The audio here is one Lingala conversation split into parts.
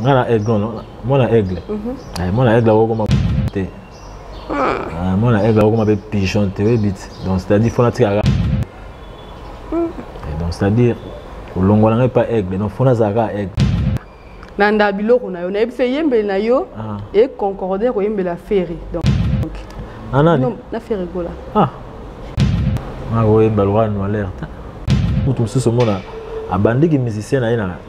nga na aigle no mwana aigle mhm. eh, mwana aigle akokoma te ah. eh, mwana aigle akokoma mpe pigeon te oyebi te donc c'est-à-dire fona tikaka mhm. eh, donc c'est-à-dire kolongola ngai mpa aigle donc fona azalaka aigle nanda biloko na yo nayebi se eyembeli na yo ah. econcorde ya koyembela ferre donc anani ah, na ferre gola ah akoyemba lwa noalerte moto mosusu omona abandiki musicien na ye na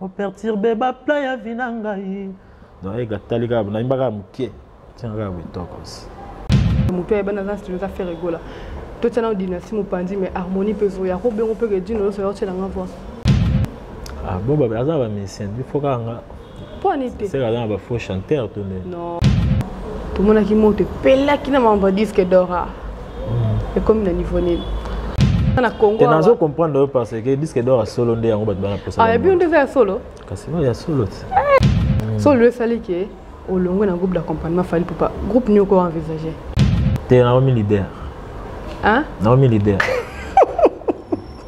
operturbe bapla ya vi na ngai naega tali kaka nayimba kaka moke ntina kaka bitokosi moto ayeba naza studio eza fere gola totia nao dynastie mopanzi mais harmonie mpe ezoya ko bengo mpe ke dino nyonso yaotyela nga voix ah, bo aza bamisien bifo kaka nga mpo ani te seka aza na bafaux chanteur to nde tomonaki moto epelaki na mambo ya disque dora ekomi na niveau nini na Congo na zo comprendre parce que disque d'or solo nde yango bato bana posa ah bien nde za solo kasi ba ya solo hmm. solo esali ke olongwe na groupe d'accompagnement fali papa groupe nini oko envisager te na omi leader hein na omi leader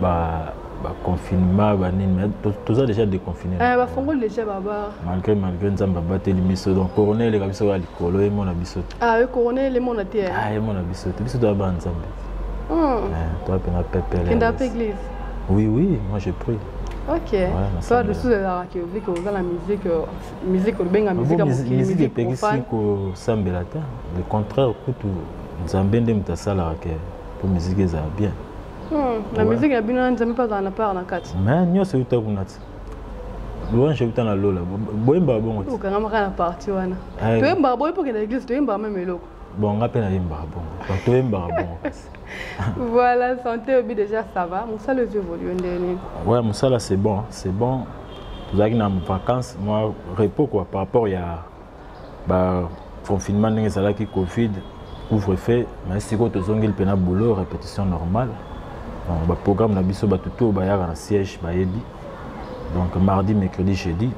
ba ba confinement ba nini mais toza déjà déconfiné eh ba fongoli déjà ba bar malgré malgré nzamba bateli biso donc corona eleka biso ya likolo ye mona biso ah oui corona ele mona te ah ye mona biso te biso toya ba nzambe hmm. eh, toya mpenza pepele kenda mpe église oui oui moi je prie ok so lisusu ezalaka ke vu ke oza na musique musique olobenga musique ya mokili musique epekisi kosambela te le contraire kutu nzambe nde moto asalaka ke po miziki ezala bien hmm, na miziki ya bino na nzambe mpe azala na part na kati me nyonso euta kuna ti louange euta na lola boyembaka bongo ti okangamaka na parti wana eh. toyembaka boye mpo kenda eglise toyembaka meme eloko bon nga mpe nayembaka bongo toyembaka bongo kasi voilà santé obi déjà ça va mosala ezo évolue ndenge nini ouais mosala c'est bon c'est bon tozalaki na vacance mwa repos quoi par rapport ya ba confinement ndenge ezalaki covid couvre feu mais sikoyo tozongeli mpena boulot répétition normale donc baprogramme na biso bato to bayaka na siège bayebi donc mardi mercredi jeudi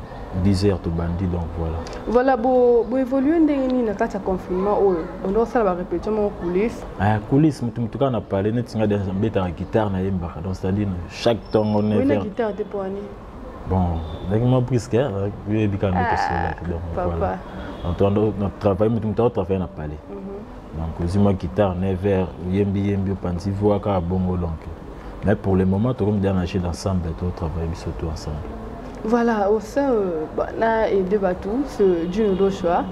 10 heures tobandi donc voilà voilà boévolue ndenge nini na kati ya confinement oyo bonde osala barépétition moko coulisse ah, coulisse moto moto kaka na pale neti nga mbetaka guitare nayembaka donc c'est-à-dire chaque ntongo 9 guitare te poani bon ndenge mwa briske oyebika nde tosolaki donc voilà travaille moto moto aotravaille na palais mhm. donc ozwi mwa guitare 9 heures oyembi yembi opanzi voi kaka bongo donc mais pour le moment tokomi deya na jeu d'ensemble totravaille biso tout ensemble voilà au sein euh, bah, na aide bato ce juno doshua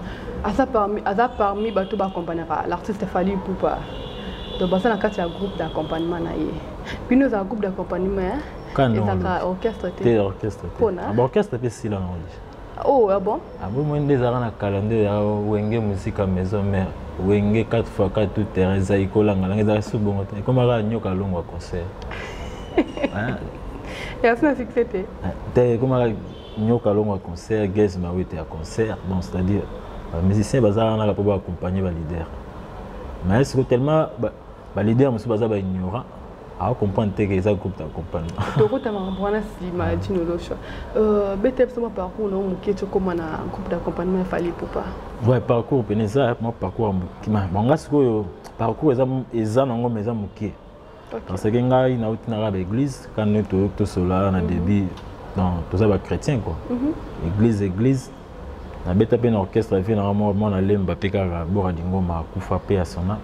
aza parmi, aza parmi bato baacompagnaka l'artiste fali pupa donc baza na kati ya groupe d'accompagnement na ye bino eza groupe d'accompagnement ezaka orchestre te te orchestre te pona ba orchestre pe sila na oje oh ah bon ah bon moi nde ezaka na calendrier ya wenge musika maison mère wenge 4 fois 4 tout terrain eza ikolanga langa ezaka su bongo te ekomaka nyoka longwa concert ya sina succès te ah, te ekomaka nyoka longwa concert gaze mawete ya concert donc c'est à dire ba musicien bazalaka naka mpo ba accompagner ba leader mais siko tellement ba leader mosusu baza ba ignorant awa comprendre te ke eza groupe na comprendre tokotanga makambo wana nsima ya dino losha beta biso mwa parcours nao moke tokóma na groupe d'accompagnement ya fali pupa ouais parcours pene eza mwa parcours ya moke banga sikoyo parcours eza eza nango ma eza moke parce que ngai nauti naka baeglise kani toyoki tosolola na mhm. début toza bachrétien quoi mhm. église église nabeta mpe na orchestre vie nanga moko mwana lemba mpe kaka bora dingoma akufa mpe ya sona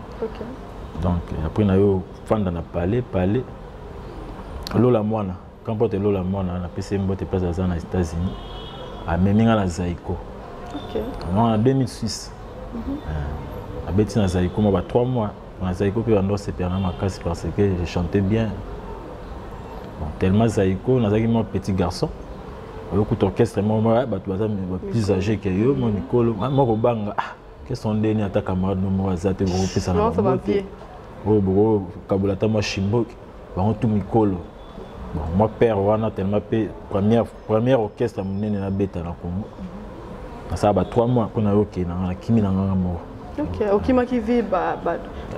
donc après nayo fanda na palais palais lola mwana kampote lola mwana napesi ye mbote place aza na états-unis amemi nga na zaiko wana na 2006 abeti na zaiko mwa ba 3 mois na zaiko mpe bando asepela na makasi parce que je chantais bien bon, tellement zaiko nazalaki mwa petit garçon oyokuta orchestre moko bato baza plus âgé ke yo mwa mikolo moko banga ah, keso ndeni ata camarade no moko aza te bokopesana oyo bokokabola ata mwa shimboki bango tu mikolo bon moi père wana tellement mpe première, première orchestre monene nabeta na congo nasala ba trois mois mpo nayoke na ngai nakimi na nganga moko okimaki vi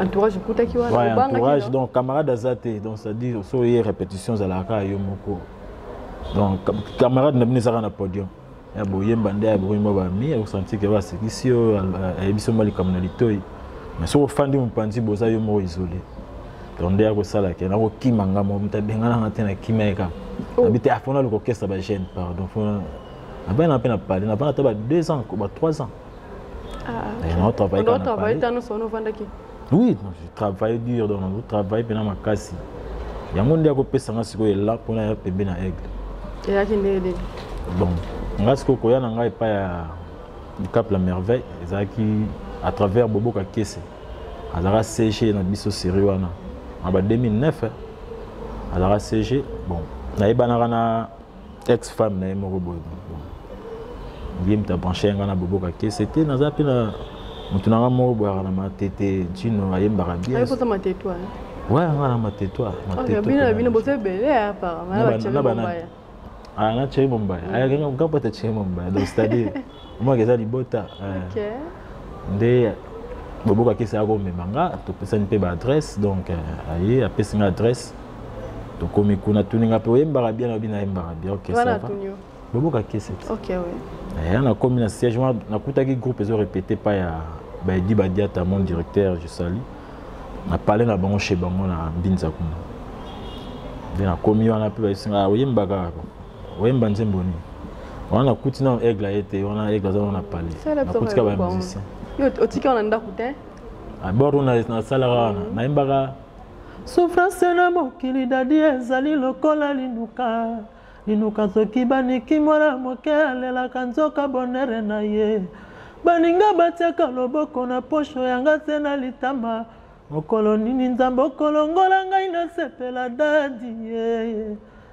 entourage okutaki wanaentourage donc camarade aza te donc cestadire so ye répétition ezalaka kaka yo moko donc camarade na bino ezaka na podium ya boyemba nde aboyemba bami akosantike basekisi yo ayebisi yo mwa likambo na litoi mais soki ofandi mopanzi boza yo moko isole donc nde akosala ke nakokima nga moko moto abengana nga te na kimia ye kaka oh. nabi te afona ah, lokokesa bagene pardon nabana mpe na pale nabana ata ba 2 ans ba 3 ans ah, eh, naotravaille oui je travaille dur donc nazo travaille mpena makasi yango nde akopesa nga sikoyo ela mpona ya pembe na aigle eyaki ndenge nini bon nga sikoyo koya na ngai epai ya cap la merveille ezalaki à travers boboka kese azalaka cg na biso série wana aba 2009 azalaka cg bon nayebanaka na ex femme na ye moko boye ye moto abranche yanga na boboka te sete naza mpe na moto nanga moko boyaka na matete ntino ayembaka bien ouais nga na matetoire na cheri bombaya ayaka nga mpata cheri bombaya donc c'est-à-dire omaka eza libota eh. nde boboka akesi yako omema nga topesani mpe baadresse donc eh, aye apesi nga adresse tokomi kuna tuni nga mpe oyembaka bien nabi nayembaka bien ok boboka akesi ya nakomi na siège wana nakutaki groupe ezo répété pa ya baedi badiata mon directeur je sali na pale na bango chez bango na mbinza kuna nde nakomi wana mpe bayesinga oyembaka oyemba nzembo nini wana nakuti nano aigle aye te wana aigle aza wana pale nakutika ba musicien otika wana ndako te abord ah, nasalaka wana mm. nayembaka sufrance na mokili dadi ezali lokola linuka linuka soki baniki mwana moke alelaka nzoka bonere na ye baninga batiaka loboko na posho yanga se na litama mokolo nini nzambe okolongola ngai nasepela dadi yeye yeah, yeah.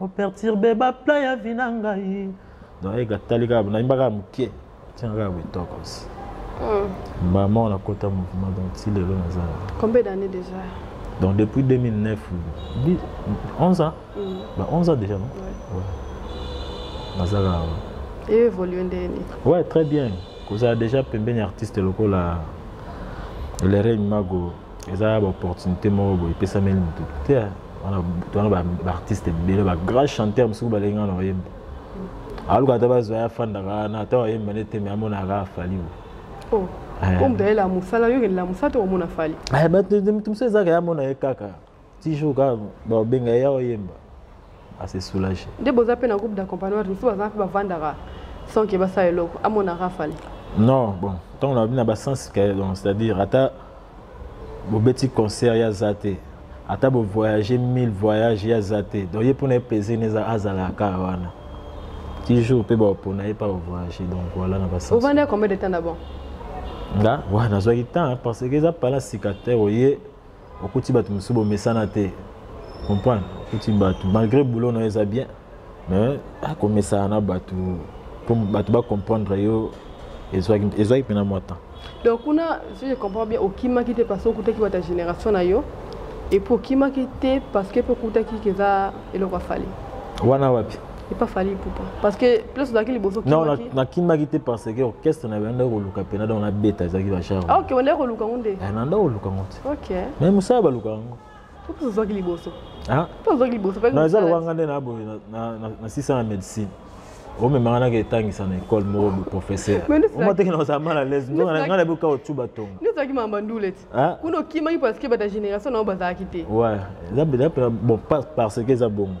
O perturbe ba plan ya vie na ngai. Donc ega tali kaka na imbaka mukie. Tiens kaka bitoko aussi. Mm. Maman on a kota mouvement donc ti lelo na za. Combien d'années déjà? Donc depuis 2009 11 ans. Mm. Bah 11 ans déjà non? Ouais. ouais. Nazala. Et évoluer ndeni. Ouais, très bien. Koza déjà pembeni artiste lokola Lere Mago eza ba opportunité moko boye epesameli motu te wana wana baartiste ebele bagrand chanteur mosuku balengi nga na oyemba aluka ata bazwa ya fandaka wana ata oyemba nde te me amonaka afali bo oh, eh. omutu ayelela mosala yo okelela mosala te omona fali eh, motu mosusu ezaka ye amona ye kaka ti jour kaka babenga ye awa yemba ase soulage nde boza mpe na groupe d'accompagnement misusu baza mpe bavandaka sans ke basala eloko amonaka afali non bon ntango na bina basens donc c'est-à-dire ata bobeti concert ya aza te ata bovoyage mille voyage ya aza te donc ye mpona ye plaisir ne azalaka kaka wana ti jour mpe bapona ye mpa bovoyage donc voilà na basens ovandi ya combien de temps d'abord nga wana nazwaki temps parce que eza pala sika te oye okuti bato mosusu bomesana te comprendre okuti bato malgré boulot na yo eza bien mais akomesana na bato mpo bato bacomprendre yo ezwaki mpena mwa temps donc kuna si je comprends bien okimaki te parce okutaki bata génération na yo epuis okimaki te parce que mpe okutaki keza eloko afali wana wapi epa fali ipupa parce que place ozalaki liboso non nakimaki te parce que orchestre na banda koluka mpena donc nabeta ezalaki bachar ah, ok ondaki koluka ngo nde eh, nanda koluka ngo te ok mais mosala baluka yango mpo ozwaki liboso ah? mpo ozwaki liboso na eza lokola nga nde na boye na sisa na médecine omemanga naka etangisa na ekole moko boprofesseur omateke na kozala mal alaise nzonga nga na boka otu batonga ezalaki mama ndule ti ah? kuna okimaki parce que bata génération na yo bazalaki te ouais eza bon parce que eza bongo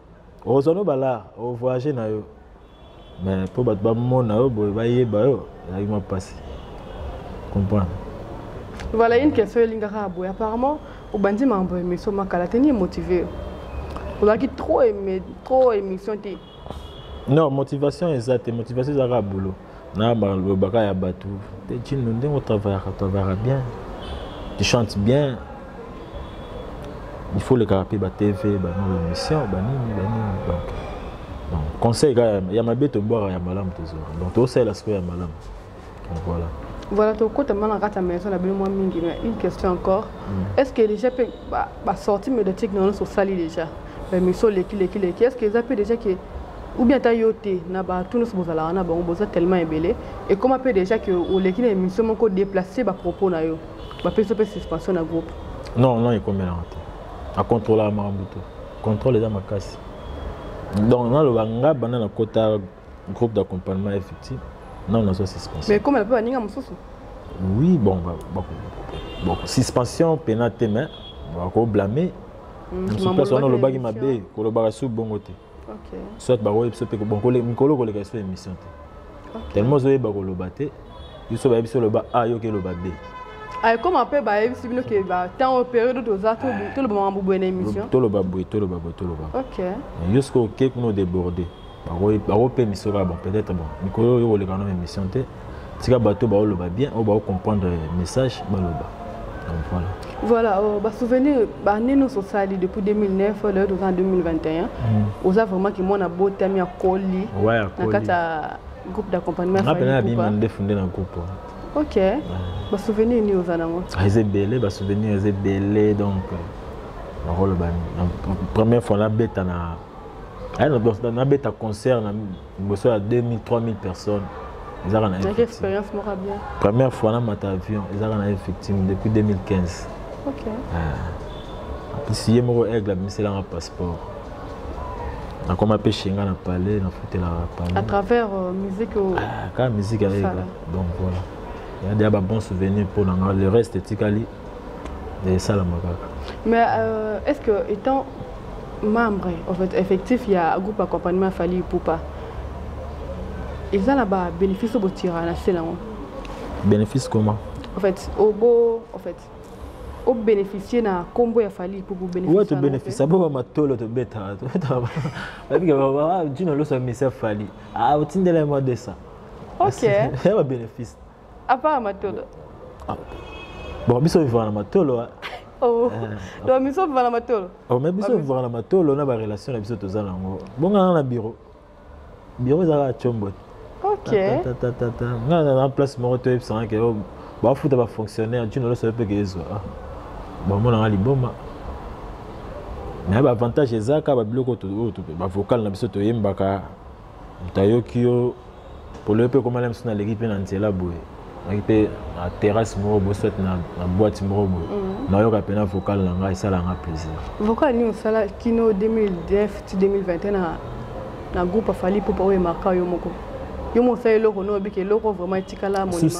okozwa no balare ovoyage na yo mais mpo bato bamona yo boye bayeba yo ezalaki mwa mpasi comprendre voilà une question elingaka boye apparemment obandi makambo ya émission makala te ni emotive yo ozalaki trop trop émission te non motivation eza te motivation ezalaka boulot na balobaka ya bato te cino ndenge otravayaka travayaka bien tu chante bien il faut olekaka mpe batv banini émission banini banini donc donc conseil kaka ya mabe tobwaka ya malamu tozwaka donc tosalela sikoyo ya malamu donc voilà voilà tokota mwana na kati ya maison na bino mwa mingi mais une question encore mm. est ce que déjà mpe basortie médiatique na nyonso osali déjà bamiso leki leki leki est ce que eza mpe déjà ke ou bien ata yo te na bato nyonso bozalaka na bango boza tellement ebele ekoma mpe déjà ke oleki na émission moko déplace bapropos na yo bapesi mpe suspension na groupe non non ekomelaka te acontrolaka makambo te contrôle eza makasi donc naloba nga banda nakota groupe d'accompagnement ya fiti nano nazwa suspension mais komela mpe baninga mosusu oui bon ba, ba, bon suspension pena te mais bakoblame mosusu place wana olobaki mabe kolobaka su bongo te soit bakoyeba biso mpe mikolo koleka biso émission te tellement ozoyeba koloba te biso bayebi biso oloba a yoki eloba b ekoma mpe bayebisi bino ke batemp oyo periode toza toloba makambo boye na émission toloba boye toloba boye toloba yo soki oke kuna odeborde bakope emission kaka bon peut-être bon mikolo oyo koleka na émission te tika bato baoloba bien oyo baocomprendre message baloba donc voilà voilà oh, basouvenir baannée nyonso osali depuis 2009 lelo toza na 2021 oza vraiment kimwana abotami akoli na kati ya groupe d'accompagnement nga mpena nabima ndefu nde na groupe ok basouvenir nini oza nango eza ebele basouvenir eza ebele donc nakoloba première fois nabeta na nabeta concert na liboso ya 2000 3000 personnes ezaka na expérience moko bien première fois namata avion ezaka na effective depuis 2015 ok apesi ye moko aigle abimiselanga passeport nakoma mpe shenga na palais nafutelaka palais à travers euh, musique ah, kaka musique ya aigle donc voilà ya deya ba bon souvenir mpo na nga le reste etikali esalama kaka mais euh, est ce que étant membre en fait, effectif ya groupe accompagnement fali ipupa eza na babénéfice oyo botira na se nango bénéfice comment en fait obo en fait obénéficie na nkombo ya fali mpo bobénéficie tobénéficie bo bamatolo tobetaka tobetaka jino loso ya misia fali otindela ye mwa 200 ok ya babénéfice Apa matolo. Ah. Bon biso vivre na matolo. Ah. Oh. Eh. Donc biso vivre na matolo. Oh mais biso vivre na matolo na ba relation na biso toza nango. Bonga na bureau. Bureau ezaka chombo. OK. Ta ta ta ta. Nga na place moko to ebisanga ke oh, ba futa ba fonctionnaire, tu ne le sais pas que ezwa. Ah. Bon mona nga liboma. Mais ba avantage ezaka ba biloko to ba vocal na biso toyembaka moto ayoki yo polele mpe ekomala mosu naleki mpe na nzela boye naki mpe na terrasse moko boye soit na, na boîte moko boye mm -hmm. nayoka mpena vocal na ngai esala nga plaisir vocal nini osala kino 2009 ti 2021 na, na groupe afali popa oyo emarka yo moko yo mosala eloko no obiki eloko vraiment etikala monima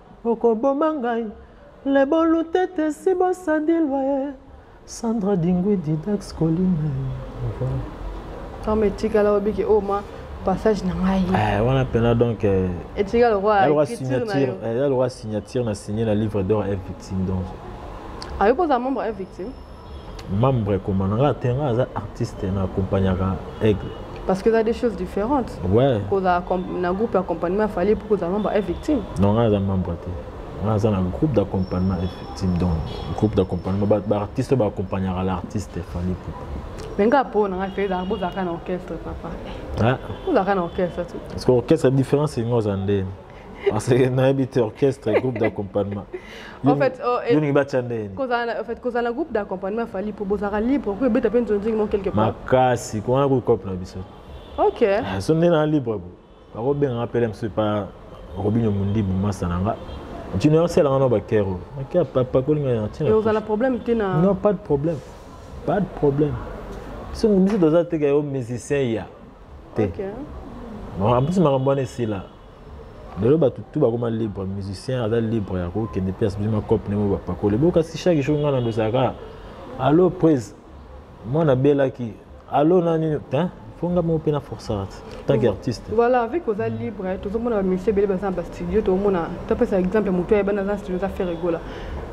Okoboma ngai le bolutete si bosadilwa ye Sandra Dingwidi Dax Colline Tome etikala obiki o oh, mwa passage na ngai eh, wana mpena donc eh, etika lokola signature eh, ya lokola signature na signe na livre d'or f victime donc ayoki ozala membre f victime membre ekoma na nga te nga aza artiste na accompagnaka aigle parce que eza des choses différentes ouais. kozala na groupe accompagnement afali mpo kozala membre e victime non nga aza membre te nga aza na groupe d'accompagnement e victime donc groupe d'accompagnement baartiste baaccompagnaka l'artiste efali pupa mais nga mpo na nga mpe ezalaka bozalaka na orchestre papa ozalaka na orchestre tu parce que orchestre différence enga oza ndeni Parce que nayebi te orchestre et groupe d'accompagnement. en fait, oh, et, yoni bacha ndeni. Kozala en fait kozala groupe d'accompagnement fali pour bozara libre ko beta pe nzonzi mo quelque part. Makasi ko wana ko cop na biso. OK. Ah, so ndena libre ko. Ba ko benga appeler monsieur pas Robinho Mundi Bumasa nanga. Tu n'as pas là ba kero. OK, papa ko linga na tina. Et ozala problème te na. Non, pas de problème. Pas de problème. Si nous sommes des musiciens, te ampesi makambo wana esila lelo bato tu bakoma libre musicien aza libre ya kokende mpe asbisi makope ndenge bapakoli bo kasi chaque jour ngai nandosaka allo prise mwana abelaki allo nani po nga moko mpe na forçat tant que artiste voilà avec oza libre tozomona bamisie ebele baza na bastudio tomona topesa exemple motu ayebana aza na studio eza fere egola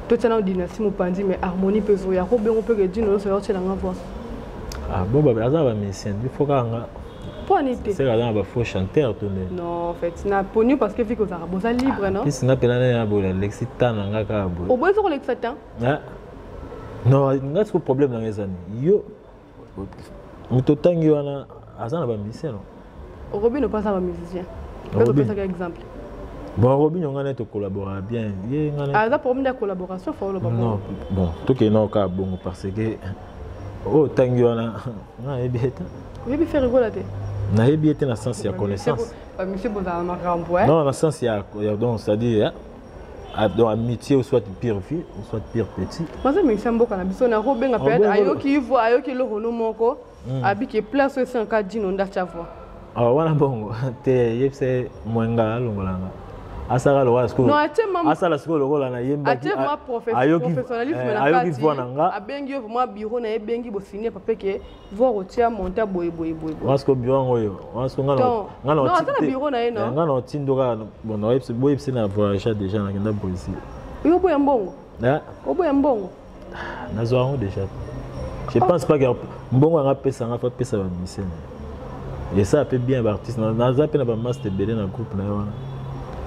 totyana dynastie mopanzi mais harmonie mpe ezoya ko bengo mpe kedino oyoso yaotyelanga voix Ah, bon, bah, aza ba musicien, il faut kanga. Poni te. C'est là ba faux chanteur tout le. Non, en fait, na poni parce que fiko zara boza libre, non? Puis na pela na bola lexi tana nga ka bola. Au moins ko lexi tan. Ah. Non, nga ce problème na ngezani. Yo. Mutotangi wana aza na ba musicien, non? robino mpe aza ba musicien opesaka exemple bon robino ngai naye tocollabora bien ye ngai aza problème de collaboration fa oloba non bon tokei nao kaka bongo parce que oyo oh, ntangi wana nayebi ete oyebi fe rigola te nayebi ete na sens ya connaissance monsieur bozala makambo non na sens ya donc c'est à dire Ah, donc amitié ou soit pire vieux ou soit pire petit baza mikisa mboka na biso na kobenga mpe ayoki ivo ayoki eloko no moko mm. abiki place oyo esenga ka dino nde atya voi awa ah, wana bongo te yebisa ye mwenga alongolanga asala lokola sikoyo asala sikoyo lokola na yembaki ayoki eh, voi na nga abengi yo vraimen bureau na ye ebengi bosini pape ke voi otia monta boye boye boye wana sikoyo bureau yango oyo wana sikoyo nga na otindo kaka boyebisi na voyagea deja nakenda brésil yo oboya mbongo eh? oboya mbongo nazwa yango déjà je pense pas que mbongo yanga apesa yanga fa apesa bamusicien na ye esa mpe bien baartiste naza mpe na bamaste ebele na groupe na ye wana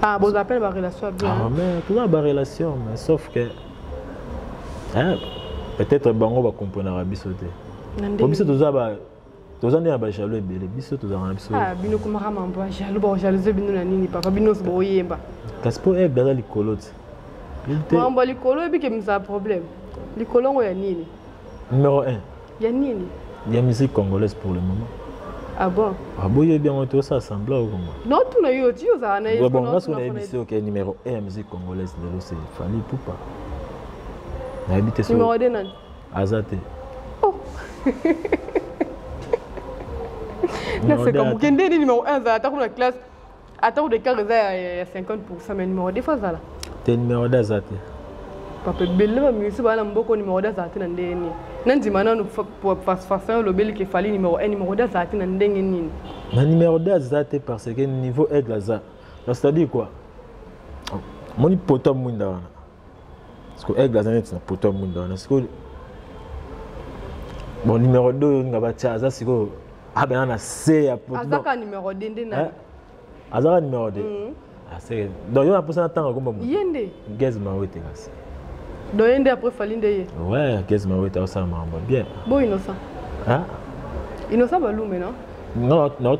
ah, boza mpe na barelation ya bien ah, mais toza na barelation mais sauf que peut-être bango bakomponaka biso te po biso toza ba toza nde na bajaloux ebele biso tozalaka na biso ah, bino komaka mambo ya jaloux bakojalouze bino na nini papa bino nyonso boyemba kasi mpo aigle aza likolo te mambo ya likolo oyebi ke mizala problème likolo yango ya nini numero 1 ya nini ya musique congolaise pour le moment Ah bon Ah bon, bien tout ça semble au Congo. Non, tout le monde dit ça. Bon, bon, on a sur l'émission qui est numéro 1 musique congolaise de l'OCE, Fali Poupa. Na habité sur. Numéro 2 nani aza te oh. naseka moke nde nde numero 1 azala atako na classe atako de car eza ya 50 pourcent mais numero 2 fo azala te numero 2 aza te papa ebele bamimisi baa na mboko numero 2 azala te na ndenge nini nandima nano façon olobeli ke fali numero 1 numero 2 azala te na ndenge nini na numero 2 aza te parce que niveau aigle aza c'est-à-dire quoi moni poto ya mwinda wana siko aigle aza neti na poto ya mwinda wana sikoyo bon numéro 2 oyo nga batya aza sikoyo abena na se ya potoazaka numéro 2 nde na azaka numéro 2 mm. aseke ah, donc yo naposa na ntango akomba ye nde gaz mawete kasi donc ye nde après fali nde ye ouais gaz mawete aosala makambo bien bo innocent innocent balume no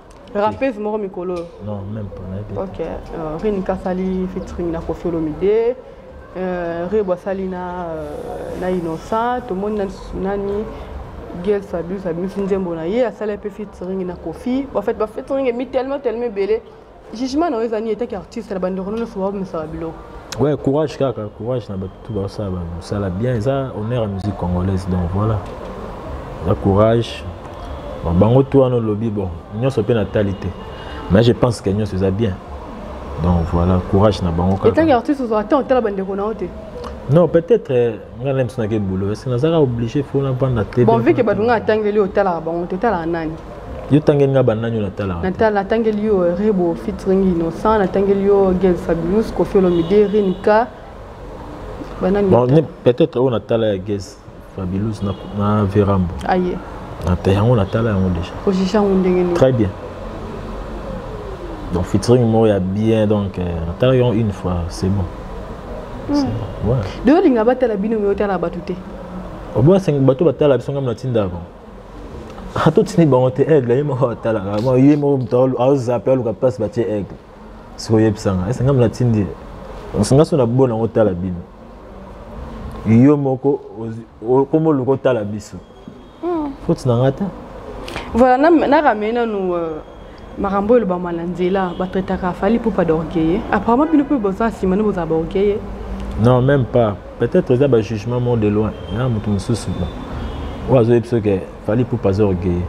Rappeuse moko mikolo oyo. Non, même pas na yebi. OK. Euh, Rini kasali featuring na Koffi Olomide. Euh, Rebo asali na euh, na Innocent, tomoni na nani Gail Fabius abimisi nzembo na ye asali mpe featuring na Koffi. En fait, ba featuring emi tellement tellement ebele. Jugement na yo eza nini etaki artiste na bandeko nyonso baomisaka biloko. Ouais, courage kaka, courage na bato. tout ba ça ba ça la bien ça honneur à musique congolaise donc voilà la courage bon bango tout en lobby bon nous sommes na talité mais je pense que nous sommes bien donc voilà courage na bango kaka etangi artiste ozwa temps otala bandeko na yo te non peut-être euh, nga na biso nake boulot parce que nazalaka obligé fo navanda te bon vu ke bato nga atangeli otalaka bango te otalaka nani yo tangeli nga banani oyo natalaka natangeli yo euh, rebo fitring innocent natangeli yo gel fabulus kofi olomide rinka peut-être oyo natala ya ges fabilus na verambo aye yango natala yango déjà ojija yango ndenge nini très bien donc featuring moko ya bien donc euh, natala yango une fois c'est bon hmm. de olinga batala bino me otala bato te oboya sengi bato batala biso ngai natindaka atotindi bango te aigle ye moko atalaka ye moko moto aozape aluka place batie aigle soki oyebisa nga ese nga natindi nga so nabo nango tala bino yo moko okoma oluka otala biso hmm. foti na nga te voilà naramei nanu euh, makambo oyo elobama na nzela batraitaka fali pupa d'orgueille apparemment bino mpe boza nsima nde bozala baorgueille non même pas peut-être eza bajugement mort de loin ya moto mosusu oyo azoyebi soki Fally Ipupa aza orgueilleux.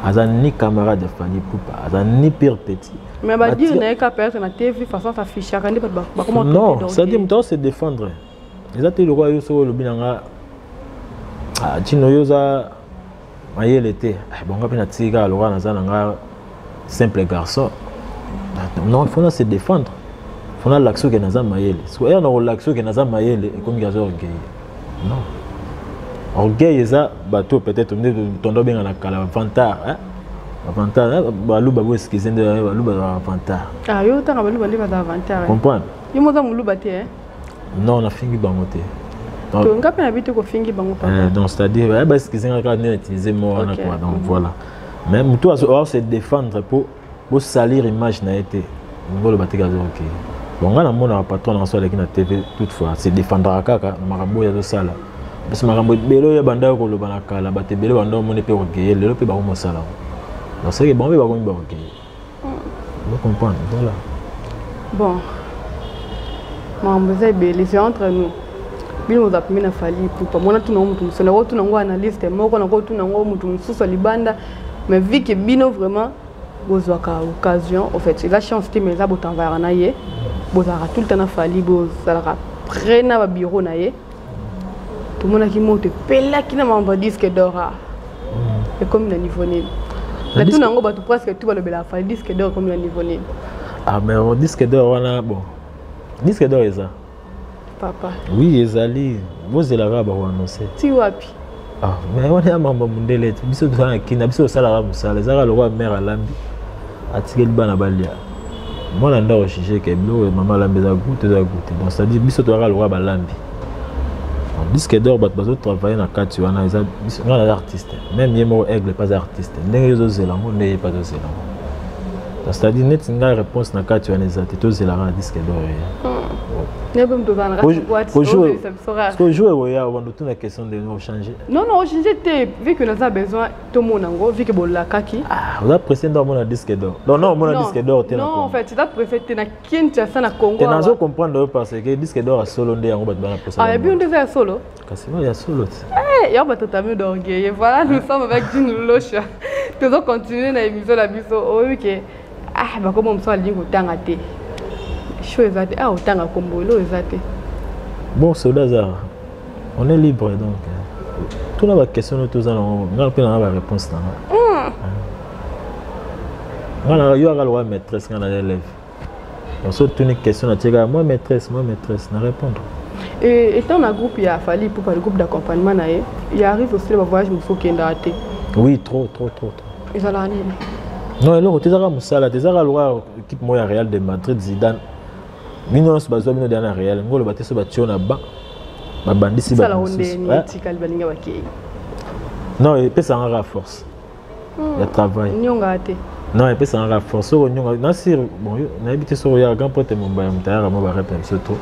Aza ni camarade ya Fally Ipupa, aza ni pire petit. Mais ba dire na ka perdre na TV façon ta fiche ka ndi ba comment Non, ça dit muto se défendre. Eza te lokwa yo soko lobi nanga. Ah, tino yo za mayele te. Ah, bonga pe na tika lokwa na za nanga simple garçon non faut se défendre faut na l'action que naza mayele so ya na l'action que naza mayele et comme gazo orgueil non orgueil eza bateau peut-être nde tondo benga na kala vantard hein vantard hein? baluba bo excuse nde baluba vantard ah yo tanga baluba nde baza vantard comprendre yo moza muluba te hein non nafingi bango te nga mpe na bite kofingi bango eh, donc c'est-à-dire eh, baskizenga kaka nde na utilise mo wana kua donc mhm. voilà mais motu aose défendre mpo bosalir image na ye te ngoloba teke azoki bon ngai namonaka patron na nso aleki na tv toute fois se défendaka kaka na makambo oyo azosala parce makambo ebele oyo bandaki koloba na kala bato ebele bandaki omoni mpe kokeye lelo mpe bakomosala donc seke bango mpe bakomi bakokeye Vous comprenez, voilà. Bon. Maman, vous êtes belle, c'est entre nous. bino boza pembe na fali ipupa mwana tuna ngo motu mosusu nako tuna ngo analyste moko nako tuna ngo motu mosusu ya libanda mais vu que bino vraiment bozwaka occasion au fait eza chance te mais eza botanvayaka na ye bozalaka tout le temps na fali bozalaka près na babureau na ye tomonaki moto epelaki na mambo disque dora mm. ekomi na niveau nini na tuna yango bato presque tu balobela fali disque dor ekomi na niveau nini ah mais oh, disque dor wana bon disque dor eza papa oui ezali bozelaka bakoannonce ti wapi Ah, mais wana ya mambo mundele te biso tozala na kina biso tosalaka mosala ezalaka lokola mare alambi atikeli bana balia mwana nda ojuge ke biloko ya mama alambi eza goute eza goute donc cetadi biso tozalaka lokola balambi disque dor bato bazotravaille na kati wana eza nga naza artiste meme ye moko aigle mpe aza artiste ndenge yo ozozela yango nde ye mpe azozela yango donc cetadi neti ngai réponse na kati wana eza te tozelaka na disque dor ye hmm. Parce que jour ekoya obanda otuna question de no change non non ochange te vu que naza besoin tomona yango vu que bolakaki ah, oza presse nde omona disque d'or donc non omona disque d'or te non en fait eza presse te na kinshasa na congo te nazo comprendre yo parce que disque d'or ya solo nde yango bato bana posa ah ebi nde eza ya solo kasi oyo ya solo te eh, yango bato otami d'orgueil voilà nous sommes avec june losha tozo continuer na émission na biso oyoki oh, ah bakoma mosusu alingi kotanga te show eza te ah otanga kombo elo eza te bon soda aza on est libre donc tuna baquestion no toza nango nga mpe nanga baréponse nanga hmm. nga na yo aka lokola maîtresse nga na élève so tuni question natiekaka moi maîtresse moi maîtresse na répondre Et étant na groupe ya fali pour le groupe d'accompagnement na ye ya arrive aussi na bavoyage mosusu okendaka te oui trop trop trop ezalaka nini non eloko te ezaka mosala te ezaka loka équipe moko ya real de madrid zidane bino nyonso bazwa bino deya na real ngolo bate so batio na ba babandisi non epesaka kaka force hmm. ya travail nyonga te non epesaka kaka force soko nyonga nasir bon nayebi te soko yaka grand pote momba ya motayaka mwa barepe biso to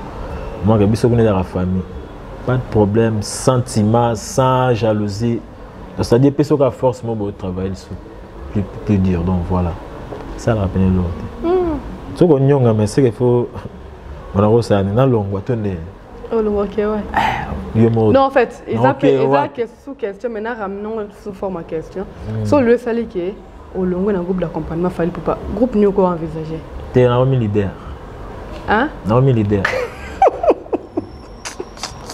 mwaka biso kuna ezaka famille pas de problème sans tima sans jalousie ça dit pe soka force mo bo travailler lisusu plus, plus dur donc voilà ça rappelle l'autre mm. soki onyonga mais seke faut wana kosala nini nalongwa to nde olongwa ke wa yo moko non en fait eza pe eza ke sous question mais na ramenons sous forme à question mm. so le sali ke olongwe na groupe d'accompagnement fali papa groupe nio ko envisager te na omi leader hein na omi leader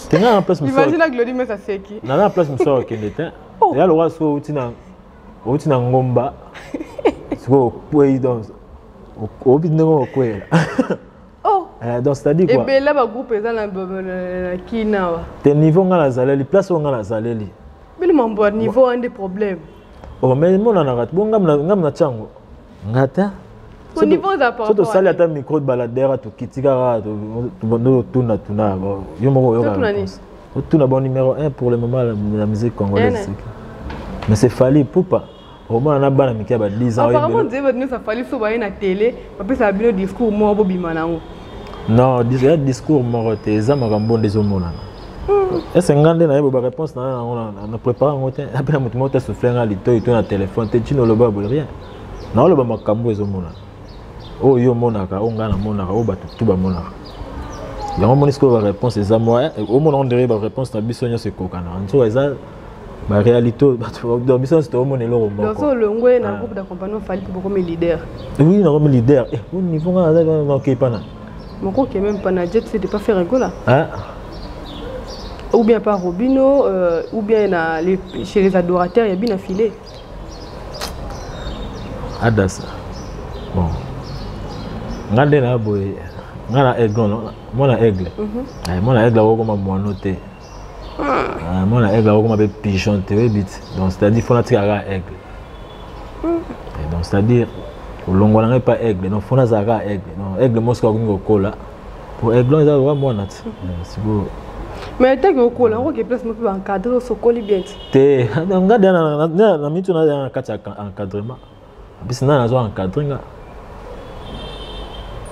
tenga na place mosusu imagine glodi mesa seki na na place mosusu akende te oh. ya lokola soki outi na outi na ngomba sikoyo okwei donc oyebi ndenge okweyela oh. eh, donc c'est-à-dire quoi ebela ba groupe eza na kinawa te niveau nga nazaleli place oyo nga nazaleli bino mambo ya niveau ande problème oh mais emonanaka bonga nga mna tiango nga te so tosali ata micro de baladere tokiti kaka totuna tuna yo moko oyokaotuna bon numéro 1 pour le moment la musique congolaise mais c'est fali pupa omona na bana mike ya ba 10 ans apparemment nzembo nyonso afali so baye na tele bapesaka bino discours moko bobima na yango non ya discours moko te eza makambo nde ezomonana ese nga nde nayebi baréponse na yango na prépare yango te ape na moto moko te souffle nga litoi to na telefone te ntina oloba boye rien naoloba makambo ezomonana oyo yo omonaka oyo ngai namonaka oyo bato tu bamonaka yango omoni sikoyo baréponse eza moya omona ondire baréponse na biso nyonso ekokana nzoka eza ba réalité oyo bato biso nyonso tokomona eloko mokoolongwe na ah. groupe d'accompagnement ofali mpo bokomi leader oui nakomi leader eh, o niveau ngai nazalaki wana nakei pana mokoki ye meme pana jet c'est de pas faire egola ah. ou bien par robino euh, ou bien na les, chez les adorateurs ya bina filet adasa bon ngai nde na boye ngai na aigle mwana aigle mwana aigle akokoma mwano te Ah, mwana aigle akokoma mpe pigeon te oyebi te donc c'est-à-dire fona atika kaka aigle eh, donc c'est-à-dire olongwa na ngai mpa aigle donc fona azala kaka aigle donc aigle mosika akomi kokola po aiglon eza loka mwana te eh, sikoyo mais etaki okola okoke place mope baencadre osokoli bien te te nga na mitu na kati ya encadrement Bis nani azo encadrer nga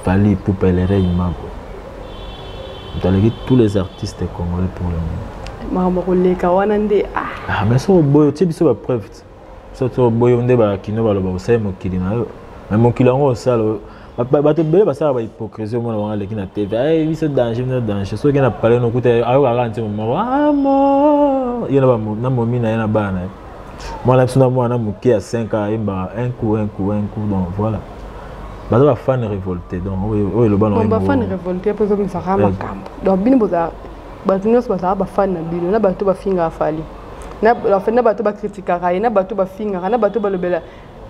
Fally Ipupa Elere Imago moto aleki tous les artistes congolais pour le moment makambo koleka wana nde ah. ah mais soki oboyi otie biso bapreuve soki oboyi nde bakino baloba osali mokili na yo mais mokili yango osala bato ebele basala ba hypocrisie omona bango aleki na tv aye biso danger bino danger soki okei na palais nokuta ayoka kaka nzembo moko amo ye na momi na ye na bana na ye mwana biso na mwana moke ya 5 a ayembaka un coup un coup un coup donc voilà baza bafane révolté donc oyo eloba nabafane révolté mpo ezomisaka makambo donc bino boza bato nyonso bazala bafane na bino na bato bafingaka fali na bato bakritikaka ye na bato bafingaka na bato balobela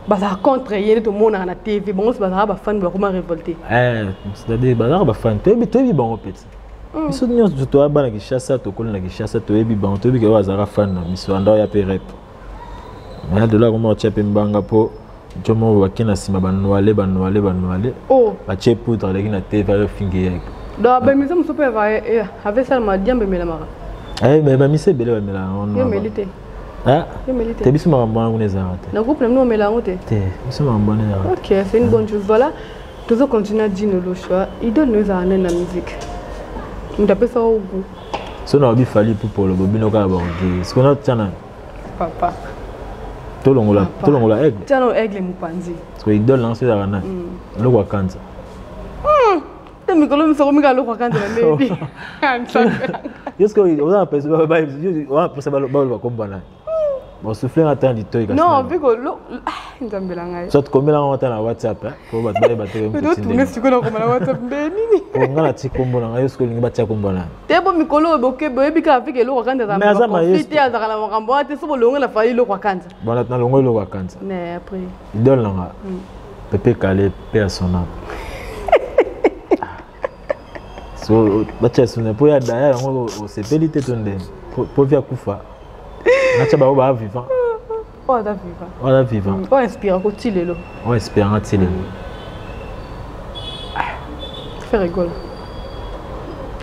bazala contre ye nde tomonaka na tv bango mpe bazalaka bafani bakoma révolte eh, c'est-à-dire bazalaka bafani toyebi toyebi bango mpenza mm. biso nyonso toya bana kinshasa tokoli na kinshasa toyebi bango toyebi kee bazalaka fani na miso anda oya mpe rep maya delo akoma otya mpe mbanga mpo jomo bake na nsima banoale banoale banoale oh. batye poudre aleki na tv ayofingi ye donc bamisa mosusu mpe avasalama diambe emelamaka eh, bamisa ebele bamelaka Hein? T'es biso makambo wana kuna ezalaka te na groupe na bino omela yango te te biso makambo wana ezalaka ok c'est une bonne chose voilà tozo continue dino le choix idole no ezalaka nani na musique moto apesa o goût so na obi fali pupolo bobino kaka baoge siko na tya nani papa tolongola tolongola aigle tya no aigle mopanzi siko idole nanso ezalaka nani eloko akanza te mikolo miso okomi kaka lokwa kanza na lebi yoske oza napesa baloba kombana bosufle nga ata litoi non viko nzambe na ngai soit komela yango ata na whatsapp po bato bayeba teotunge sikoyo nakoma na whatsapp nde nini po nga nati kombo na ngai yo sikoyo olingi batia kombo na te bo mikolo oyo boke boyebi kaka vika eloko akanza te azalaka na makambo wana te so bolongo na fali eloko akanza bona nalongo eloko akanza mais après idole na nga mm. pepe kale pe ya son âme so batya suna mpo ya daya yango osepeli te to ndenge mpo vi akufa natya bango baa vivant oyo aza vivant oyo aza vivant mm, oyo inspirako ti lelo oyo inspiranga ti lelo ah. fe rigole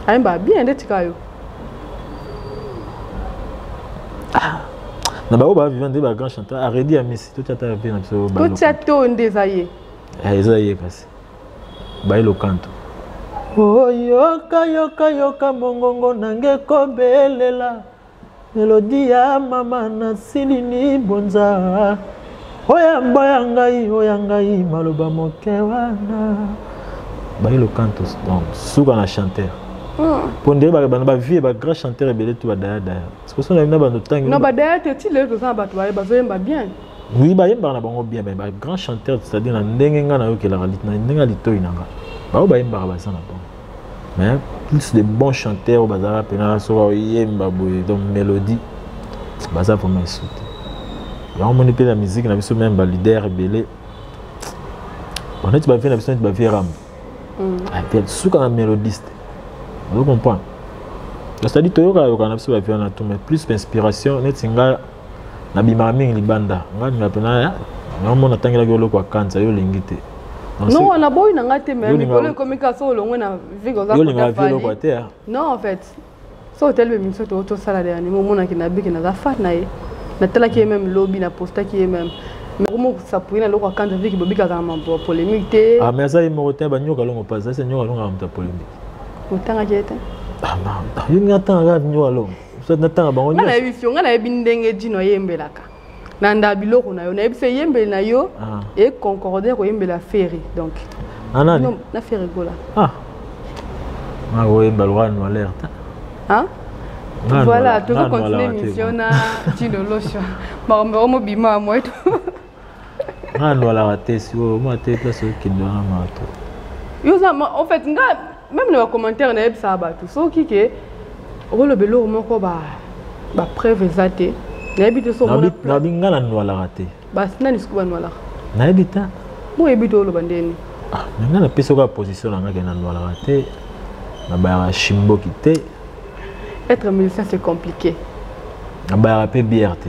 ayembaa bien nde tika yo ah. na bango baviva nde bagrand chanteur aredi ya misi totya ta mpe na biso totya to nde eza ye eh, eza ye kasi baye lokanto oyoka yoka yoka mongongo nange kobelela Melodi ya mama na silini bonza oyamba ya ngai oya ngai maloba moke wana bayelo cantos donc suka na chanteur mpo nde bana bavie bagrand chanteur ebele tu badaya daya sikoso na bino bando ntangi na badaya te ti lelo toza na bato baye bazoyemba bien oui bayembaka na bango bien mais bagrand chanteur c'est-à-dire na ndenge ngai nayokelaka na ndenge ya litoi na ngai baoyo bayembaka baza na bango mais plus de bons chanteurs bazalaka mpena soki oyemba boye donc mélodie baza vraiment esu te yango omoni mpe na miziki na biso meme balider ebele baneti bavie na biso neti bavie rambo mm. suka na mélodiste ozo comprendre c'est-à-dire toyokayokana na biso bavie wana tout mais plus inspiration neti ngai nabimaka mingi libanda ngai mima mpena yango natangelaki oloko ya kanisa yo olingi te non wana boyi na ngai te me mikolo ekomi kaka so olongwe na vigoyolingaa vi oloko te ah. non en fait so otelemi biso to tosala de yanimo omonaki nabiki naza fan na ye natalaki ye meme lobi napostaki ye meme mokosapuye na eloko ya kanisa viki bobikaka na mambo ya polémique te ah, mais aza ye moko te banyoka longo mpasi asa nyoka longo ya moto ya polémique otangaki ye te ah, yo ngai atangaka nyoka longo natanga bango nga nayebi fio nga nayebi ndenge dino ayembelaka na nda biloko na yo nayebi se eyembeli na yo ah. econcorde koyembela ferre donc ah, na ferre gola ah. nakoyemba lwa no alerte voilà tozocontinue émission na dino losha makombo yango mobima ya moeto nga lwalaka te sikoyo mwa te place okende wana maa to yo oza en fait nga même na bacommentaire nayebisaka bato soki ke okoloba eloko moko bapreuve eza te nayebi te sonabi nga na nwalaka te basi nani siko banwalaka nayebi te boyebi te oloba ndeni ah, nga napesi oka position na nga ke na nwalaka te nabayaka shimboki te être musicien c'est compliqué nabayaka mpe bière te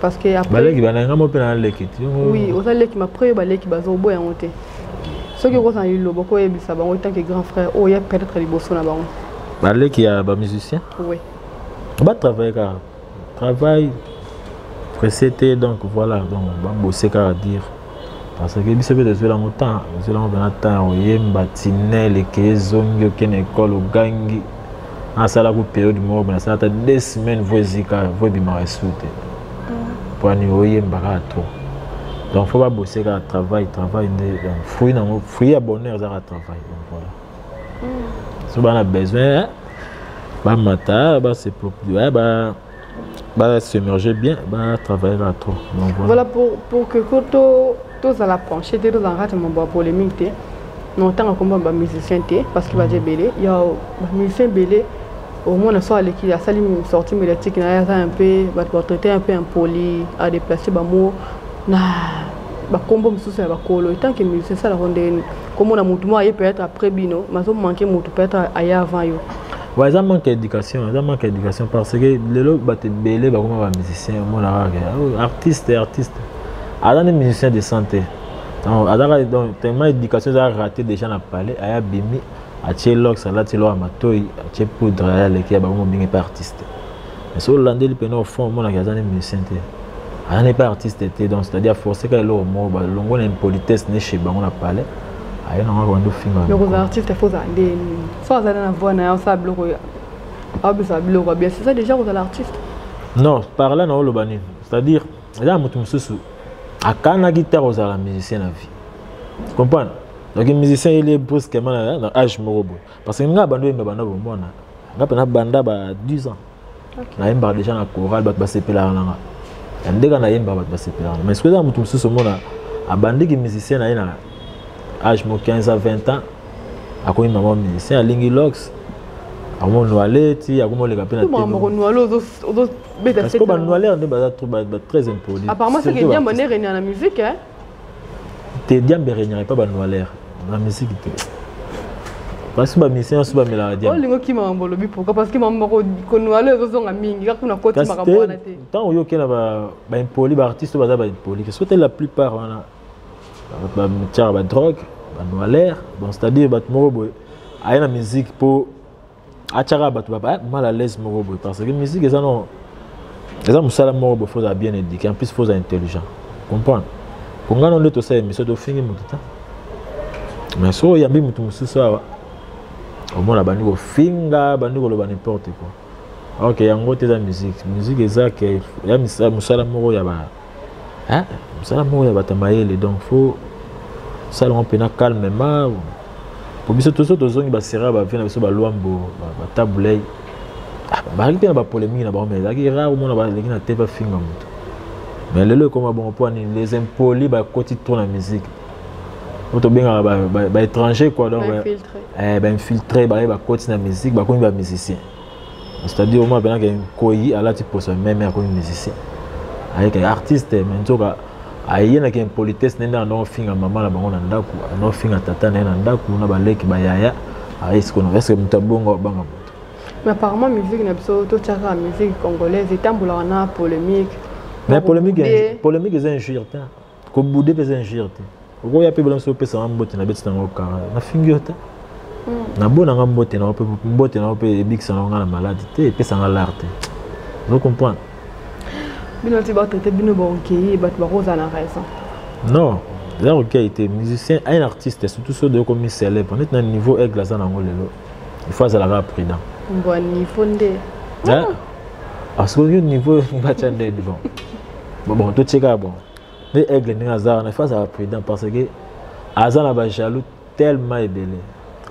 parce que après baleki bananga mo pena leki ti oui oza leki ma après baleki bazo boya ngo te soki okoza na liloba okoyebisa bango tant que grand frère oyo oh, ya peut-être liboso na bango baleki ya ba musicien oui ba travailler kaka travail pressé te donc voilà donc bambose kaka dire parce que biso mpe tozwela yango temps ozwela yango mpena temps ya koyemba tinel eke ezongi oke na ekole ogangi nasalaka periode moko boye nasala ata deux semaines vo ezika vo ebimaka esu te mpo ani oyemba kaka to donc fo babose kaka travail travail nde donc fruit nango fruit ya bonheur eza kaka travail donc voilà so bana besoin bamata baseproprie ba ba s'émerger bien ba travailler là trop donc voilà, voilà pour pour que koto tous à la pencher te tous en rate mon bois polémique te non tant que ba musicien te parce que ba je belé il y a ba musicien belé au moins na soit l'équipe ça lui sortie médiatique na ça un peu ba traiter un peu impoli à déplacer ba mots na ba combo mususu ya ba kolo tant que musicien ça la ronde comme on a mutu moi peut-être après bino mais on manque mutu peut-être ailleurs avant yo Ouais, eza manque ya éducation eza manque ya éducation parce que lelo bato ebele bakoma ba musicien omonaka ke oh, artiste artiste aza nde musicien de santé azaka donc tellement éducation eza raté déjà na palais aya bimi atie lox alati loa matoi atie poudre aya leki ya bango mobingi mpe artiste mais soki olandeli mpena au fond omonaki aza ne musicien te aza ne mpe artiste te donc c'est-à-dire force kaka eloko moko balongo na impolitesse ne chez bango na palais aye nango akobanda ofinga donc oza artiste fo ozala nde so azali na voix na ye osala biloko abisa biloko bien c'est ça déjà kozala artiste non par là naoloba nini c'est-à-dire eza na moto mosusu akanaki te akozala musicien na vie comprendre donc musicien ye lie brusquement na age moko boye parce que ngai bando yemba banda bomwana ngai mpena banda ba 10 ans nayembaka déjà na chorale bato basepelaka na nga ya ndenge nayembaka bato basepelaka mais soki eza moto mosusu omona abandiki musicien na ye na age mo 15 a 20 ans akomi mama musicien alingi lox akomonuale ti akomoleka mpe nabannualere nde baza très impoli te diambe regnaka epa banoiler na misiki te basi bamisi nyonso bamelaka diambeolingi okima mambo olobi pourkui parce que mambo moko konoile ezozonga mingi kaka kuna koti makambo wana te ntango oyoki na baimpoli baartiste oyo baza baimpoli parce que te la plupart wana batiaka badrogue banoiler bon c'est à dire bato moko boye aye na musique mpo atyaka bato ba eh, mal à l'aise moko boye parce que musique eza no eza mosala moko boye fozala bien éduqué en plus fozala intelligent comprendre po ngai no nde tosala émission tofingi motu ta mais soki oyambi motu mosusu awa omona bandi kofinga bandi koloba n'importe quoi ok yango te eza musique musique eza ke ya mosala moko ya ba hein mosala moko ya bato ya mayele donc faut sala yango mpena calmement po biso toso tozongi basera bavie na biso balwambo batabulei ah, bazalaki mpe na bapolemiki na bango mai ezalaki rare omona baleki na te bafinga moto mais lelo ekoma bongo mpo nini les impoli bakoti trop na musique oyo tobengaka baétranger quoi donc bainfiltre eh, baye bakoti na musique bakomi bamusicien c'est-à-dire omona mpena ke nkoyi alati poso meme akomi musicien ayeke artiste me nzoka aye na kimpolitesse nde nde anaofinga mama na bango na ndako anaofinga tata na ye na ndako na baleki bayaya ayesikona eske moto abongo abanga moto mais apparemment musique na biso totyaka musique congolaise etambolaka na polémique mais polémique eza injure te kobude mpe eza injure te okoya mpe bolamosi opesa nga mbote na beti nango kara nafingi yo te hmm. nabona nga mbote nango mpe mbote nango mpe ebikisa nango nga na maladi te epesa nga lar te ozo comprendre bino ti batraite bino baokei bato bakozala na raison non eza kokei te musicien un artiste surtout soki okomi célèbre neti na niveau aigle aza nango lelo il faut azala kaka prudent bon niveau nde hein? ah, soki yo niveau batya nde bon bon totie kaka bon nde aigle ndenge aza wana il faut azala prudent parce que aza na bajaloux tellement ebele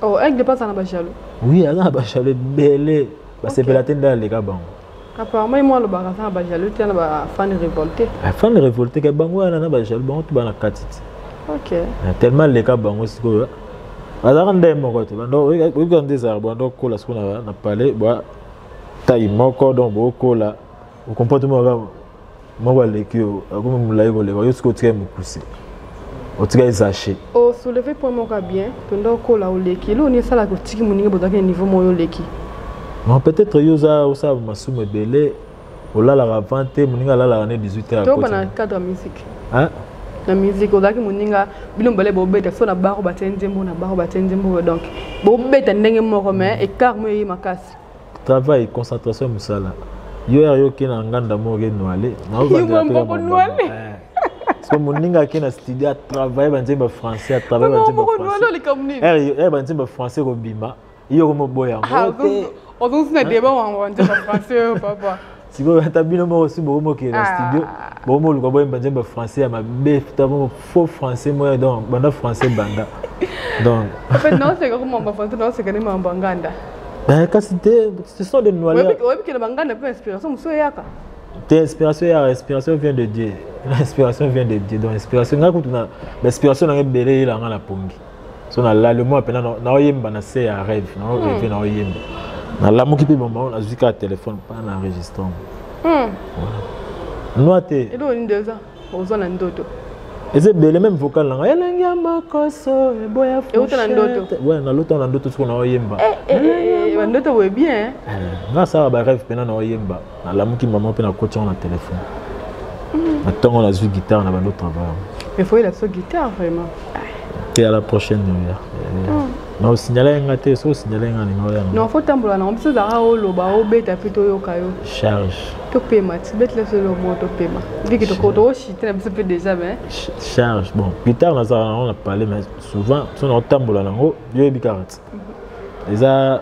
oh aigle mpe aza na bajaloux oui aza na bajaloux ebele basepela te nde aleka bango apparemment ye mwa alobaka aza na bajaloux te na bafan révolté bafan révolté ka bango wana na bajaloux bango to bana kati te ok ah, tellement aleka bango sikoyo azalaka nde moko te oyebika nde ezalaka banda okola sikoyo na palais bwa tai moko donc bokola okomportement moko aleki yo akomi molai koleka yo soki otikali mokuse otikali zache osouleve oh, point moko ya bien mpenza okola oleki eloko nini esalaka otiki moninga bozalaki na niveau moko yo oleki non peut-être yo oza osala masumu ebele olalaka avant te moninga alalaka ne 18 heures toba na cadre ya musique na musique ozalaki moninga bino mibale bobeta so na baro batye nzembo na baro batye nzembo donc bobeta ndenge moko mais écart moyo eye makasi travail concentration musala yo yaka yo ke na nganda moko ke noale so moninga ake na studio atravaille banzembo ya français atravaille banzembo ya banzembo ya français kobima yo komoboya yango ozongisi na deba wango banzembo ya français oyo papa sikoyo ata bino moko si bokomi okende na ah. studio bokomi oluka boyemba nzembo ya français ya mabe ta moko faux français moya donc banda français banda donc naoseka komamba français naoseka nde mambo ya nganda eh, kasi te ce sont des noireoyebikela banganda mpe inspiration mosusu eyaka te inspiration eyaka inspiration vient de dieu inspiration vient de dieu donc inspiration ngai kutu na inspiration nanga ebele eyelanga na pongi so nalali omona mpena naoyemba na se ya rêve naoreve hmm. naoyemba nalamuki mpe mama oyo nazwi kaka telefone mpona na enregistre yango hmm. nwa te eloko nini eza oza na ndoto eza ebele meme vocal nanga elengi ya makoso eboya euta na ndoto we nalota na ndoto soko naoyemba eh, eh, eh, bandoto boye bien nga asala bareve mpena naoyemba nalamuki mama mpe nakoti yango na telefone na ntongo nazwi guitare na bando travail efoyela biso guitare vraiment te ya la prochaine oya na osignala ye nga te so osignala ye nga alinga oya non fo tambola nango biso ezalaka oloba obeta mpe toyoka yo charge topema tibetela biso eloko moko topema viki tokotokoshite na biso mpe déjà me charge bon guitare nazalaka nango na palais mais souvent so na otambola nango yo oyebi kaka ti mhm. eza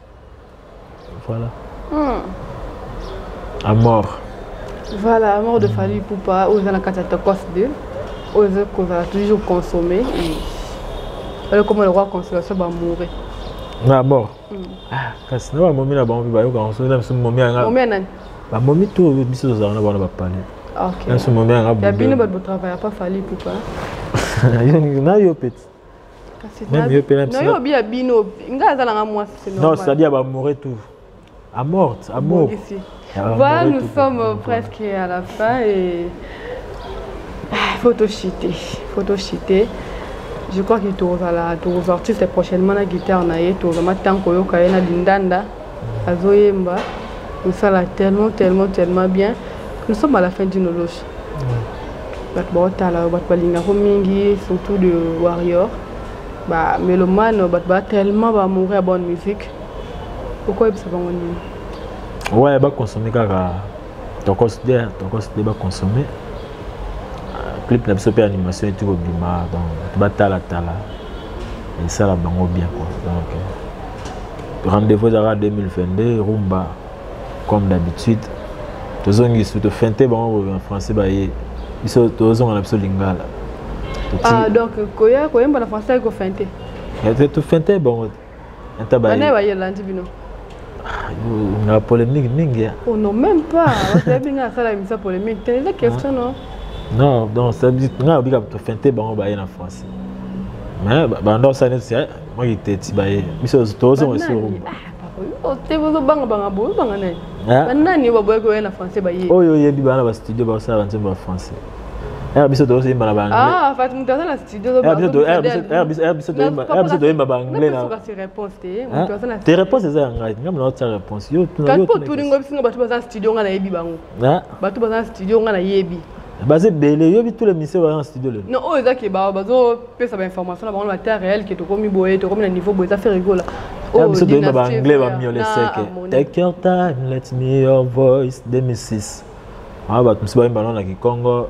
Voilà. Hmm. À mort. Voilà, à mort de Fally Poupa, aux années 414 2, aux années qu'on va toujours consommer. Et... Alors comment le roi consolation va mourir na bord hmm. ah, kasi na bamomi na bango mpe bayokaka soki na biso momi yanga bamomi to biso tozalaka na bango na bapale na biso momi yanga bino bato botravaillaka fali pupa na yo peti Même yo pena Non, yo bia bino, nga azala nga moi c'est normal. Non, c'est-à-dire ba mourir tout. À mort, à mort. Voilà, nous sommes presque à la fin et ah, faut te chiter, faut te chiter. Je crois que tozala toza artiste prochainement na guitare na ye toza matanko yo kaye na lindanda azoyemba osala tellement tellement tellement bien nous sommes à la fin d'une loge bato baotala yo bato balingako mingi surtout de warrior bamelomane bato ba tellement baamoureux ya bonne musique okoyebisa bango nini ouais baconsomme kaka tokos de tokos de baconsomme euh, clip na biso mpe animation eti kobima donc bato batalatala esala bango bien quoi donc euh, rendez-vous ezalaka 2022 rumba comme d'habitude tozongi su tofente bango na français baye biso tozonga na biso lingala ah, donc koya koyemba na français ayi kofente tofente bango tabanaye bayelandi bino ah, na polémique mingi ya oh non même pas oyebi ngai asala emisa polémique te eza question non non donc ngai obika tofente bango baye na français mais banda osala neti mwa kiteti baye biso tozonga sur te bozobanga banga bozobanga nani banani baboyaki oya na français baye oyo oyebi bana ba studio bakosala banzembo ya français r biso tozoyemba na baanglaibiso toyemba baanglais te réponse eza ya ngai ngai mona otia réponse yo tunaotuningo bisinga bato baza studio ngai nayebi bango hein? bato baza na studio nga nayebi baza ebele oyebi tous les misio baza na studio lelo non oyo eza ke bazopesa bainformation na bango na bata réel ke tokomi boye tokomi na niveau boye eza fe rigola oh, biso toyeba baanglais bamiole seke take your time let me your voice 2006 aa bato mosusu bayemba nao na kikongo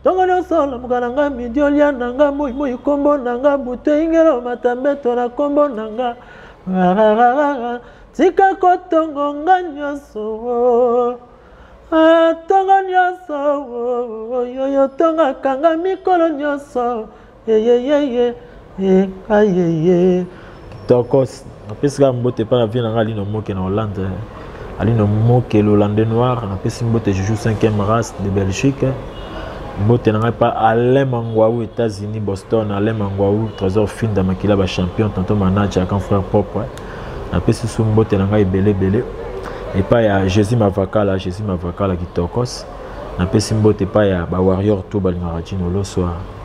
ntongo nyonso lamuka na nga midi olia na nga moi moi nkombo na nga butu ingelo matambeto na nkombo na nga tika kotongo nga nyonso ntongo nyonso yoyo ntongaka nga mikolo nyonso tokos napesi kaka mbote epai na vie na ngai alino moke na hollande alino moke lolande noir napesi mbote juju 5e race de belgique mbote na ngai mpa alain mangwau états-unis boston alain mangwau trésor finda makila bachampion tonto manaja akan frère propre napesi su mbote na ngai ebele ebele epai ya jésus mavakala jésus mavakala kitokos napesi mbote epai ya bawarrior to balingaka jino loswa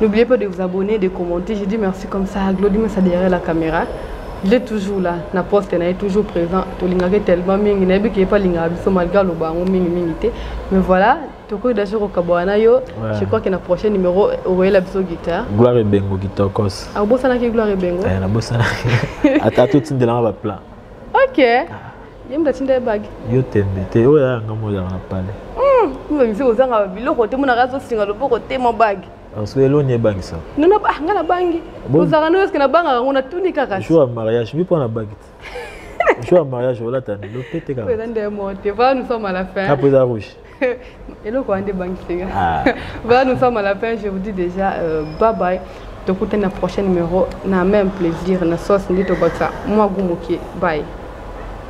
N'oubliez pas de vous abonner, de commenter. Je dis merci comme ça. Glody Massa derrière la caméra. Je l'ai toujours là. Na poste, na est toujours présent. To lingake tellement mingi. Na ebi pas linga biso malgré le bango mingi mingi te. Mais voilà, tokoki déjà kokaboana yo. Ouais. Je crois que na prochain numéro okoyela biso guitare. Gloire et Bengo Gitokos. Ah bosanaki Gloire et Bengo. Eh na bosanaki. Ata to tindela ba plan. OK. Ah. ye moto atinda ye bage yo tembe te oyo yaya nga moyaka na pale miziki hmm, ozanga biloko te monaka azosinga loboko te mo bage parce que eloni ebangisa nono ah, nga nabangi ozalaka no eske nabangaka ngo natuni kaka jour ya mariage mi mpo na bage te jour ya mariage olata nilo mpe te kaka eza nde mote va nous sommes à la fin apo eza rouge eloko wana nde ebangiseka va nous sommes à la fin je vous dis déjà euh, bye bye tokutani na prochain numéro na même plaisir na sauce nde tobakisa mwa gu moke bye